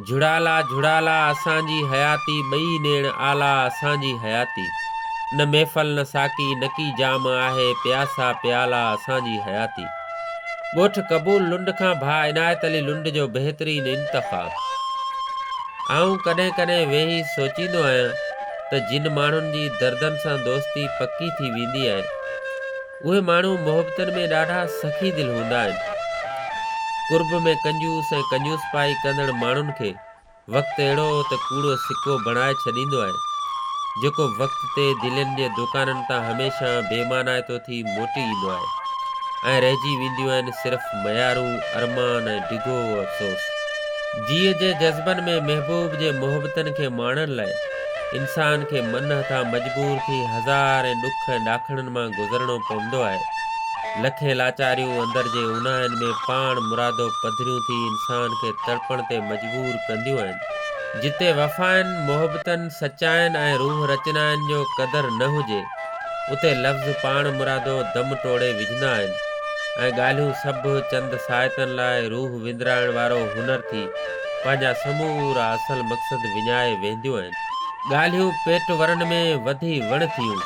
جھڙالا جھڙالا اسان جي حياتي ٻئي نيڻ آلا اسان جي حياتي نه محفل نه ساقي نڪي جام آهي پياسا پيالا اسان جي حياتي ڳوٺ قبول لنڊ کان ڀاء عنايت علي لنڊ جو بهترين انتخاب آئون ڪڏهن ڪڏهن ويهي سوچيندو آهيان ته جن ماڻهن جي دردن سان دوستي پڪي ٿي ويندي آهي اهي ماڻهو محبتن ۾ ڏاڍا سخي دل هوندا آهن. قرب ۾ ڪنجوس ۽ ڪنجوسپائي ڪندڙ ماڻهن کي وقت اهڙو ته ڪوڙو سڪو بڻائي ڇڏيندو آهي، جيڪو وقت تي دلين جي دوڪانن تان هميشه بي معنائتو ٿي موٽي ايندو آهي ۽ رهجي وينديون آهن صرف ميارون، ارمان ۽ ڊگهو افسوس. جيء جي جذبن ۾ محبوب جي محبتن کي ماڻڻ لاء انسان کي من هٿان مجبور ٿي هزار ۽ ڏک ۽ ڏاکڻن مان گذرڻو پوندو آهي. لکين لاچاريون اندر جي اوناهين ۾ پاڻ مرادو پڌريون ٿي انسان کي تڙپڻ تي مجبور ڪنديون آهن. جتي وفائن، محبتن، سچائين ۽ روح رچنائن جو قدر نه هجي، اتي لفظ پاڻ مرادو دم ٽوڙي وجهندا آهن ۽ ڳالهيون سڀ چند ساعتن لاء روح وندرائڻ وارو هنر ٿي پنهنجا سمورا اصل مقصد وڃائي وينديون آهن. ڳالهيون پيٽ ورن ۾ وڌي وڻ ٿيون،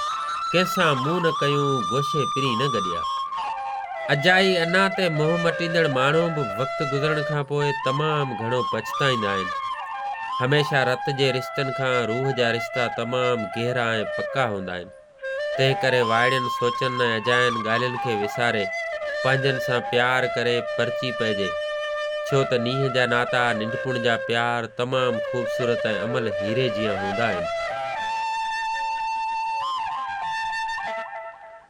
ڪنهن سان منهن نه ڪيون، گوشي پرين نه گڏيا. اجائي انا تي منهن مٽيندڙ ماڻهو به وقت گذرڻ کان پوء تمام گهڻو پڇتائيندا آهن. هميشه رت جي رشتن کان روح جا رشتا تمام گهرا ۽ پڪا هوندا آهن. تنهنڪري وائڙين سوچن ۽ اجاين ڳالهين کي وساري، پنهنجن سان پيار ڪري پرچي پئجي. ڇو ته نينهن جا ناتا، ننڍپڻ جا پيار تمام خوبصورت ۽ املهه هيري جيان هوندا آهن.